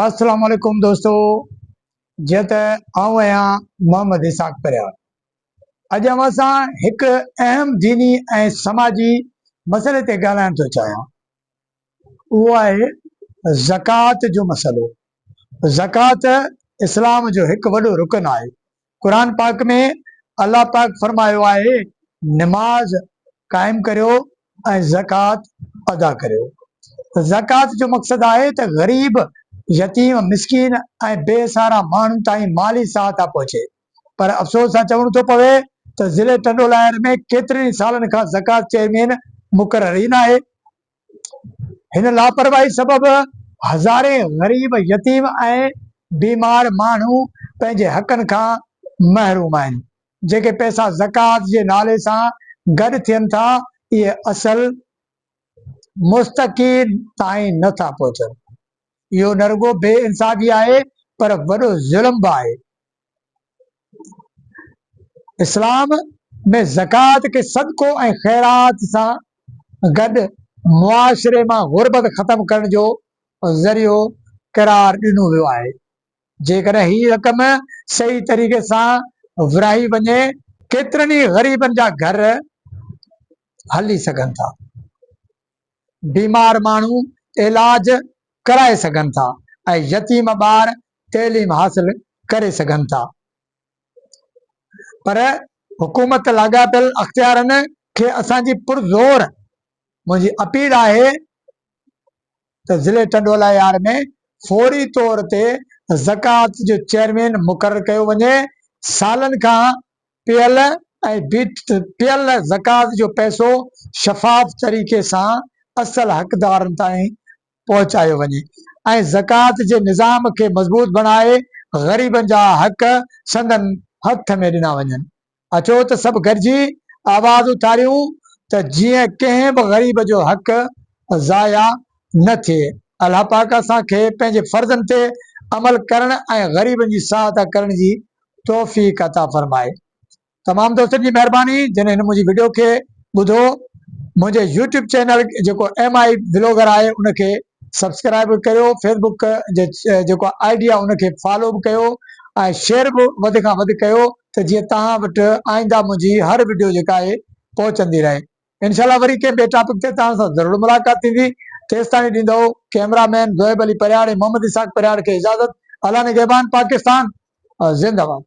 السلام عليڪم دوستو جيئن ته آئون آهيان محمد اسحاق پرهياڙ اڄ اوهان سان هڪ اهم ديني ۽ سماجي مسئلي تي ڳالهائڻ ٿو چاهيان اهو آهي زڪوات جو مسئلو زڪوات اسلام جو هڪ وڏو رڪن آهي قرآن پاڪ ۾ الله پاڪ فرمايو آهي، نماز قائم ڪريو ۽ زڪوات ادا ڪريو. زڪوات جو مقصد آهي ته غريب، يتيم، مسڪين ۽ بي سهارا ماڻهن تائين مالي سهائتا پهچي پر افسوس سان چوڻو ٿو پوي ته ضلعي ٽنڊولاهيار ۾ ڪيترن ئي سالن کان زڪوات چيئرمين مقرر ئي ناهي. هن لاپرواهي سبب هزارين غريب، يتيم ۽ بيمار ماڻهو پنهنجي حقن کان محروم آهن. جيڪي پئسا زڪوات جي نالي سان گڏ ٿين ٿا، اهي اصل مستحقين تائين نه ٿا پهچن. اهو نه رڳو بي انصافي آهي پر وڏو ظلم به آهي. اسلام ۾ زڪوات کي صدقو ۽ خيرات سان گڏ معاشري مان غربت ختم ڪرڻ جو ذريعو قرار ڏنو ويو آهي. جيڪڏهن هي رقم صحيح طريقي سان ورهائي وڃي، ڪيترن ئي غريبن جا گهر هلي سگهن ٿا. بيمار ماڻهو علاج ڪرائي سگهن ٿا ۽ يتيم ٻار تعليم حاصل ڪري سگهن ٿا پر حڪومت لاڳاپيل اختيارن کي اسان جي پرزور منهنجي اپيل آهي ته ضلعي ٽنڊولا يار ۾ فوري طور تي زڪوات جو چيئرمين مقرر ڪيو وڃي سالن کان پيل ۽ بيٺل زڪوات جو پئسو شفاف طريقي سان اصل حقدارن تائين پهچايو وڃي ۽ زڪوات جي نظام کي مضبوط بڻائي غريبن جا حق سندن هٿ ۾ ڏنا وڃن. اچو ته سڀ گڏجي آواز اٿاريون ته جيئن ڪنهن به غريب جو حق ضايع نه ٿئي. الله پاڪ اسان کي پنهنجي فرضن تي عمل ڪرڻ ۽ غريبن جي سهائتا ڪرڻ جي توفيق عطا فرمائي. تمام دوستن جي مهرباني جن هن منهنجي وڊيو کي ٻڌو منهنجي يوٽيوب چينل جيڪو ايم آئي بلاگر آهي ان کي سبسڪرائب به ڪيو فيسبڪ جي جيڪو آئي ڊي آهي ان کي فالو به ڪيو ۽ شيئر به وڌ کان وڌ ڪيو ته جيئن توهان وٽ آئنده منهنجي هر وڊيو جيڪا آهي پهچندي رهي انشاء الله وري ڪنهن ٻئي ٽاپڪ تي توهان سان ضرور ملاقات ٿيندي تيستاڻي ڏيندو ڪئميرا مين زوئب علي پرهياڙ ۽ محمد اسحاق پرهياڙ کي اجازت الله نگهبان پاڪستان زنده باد.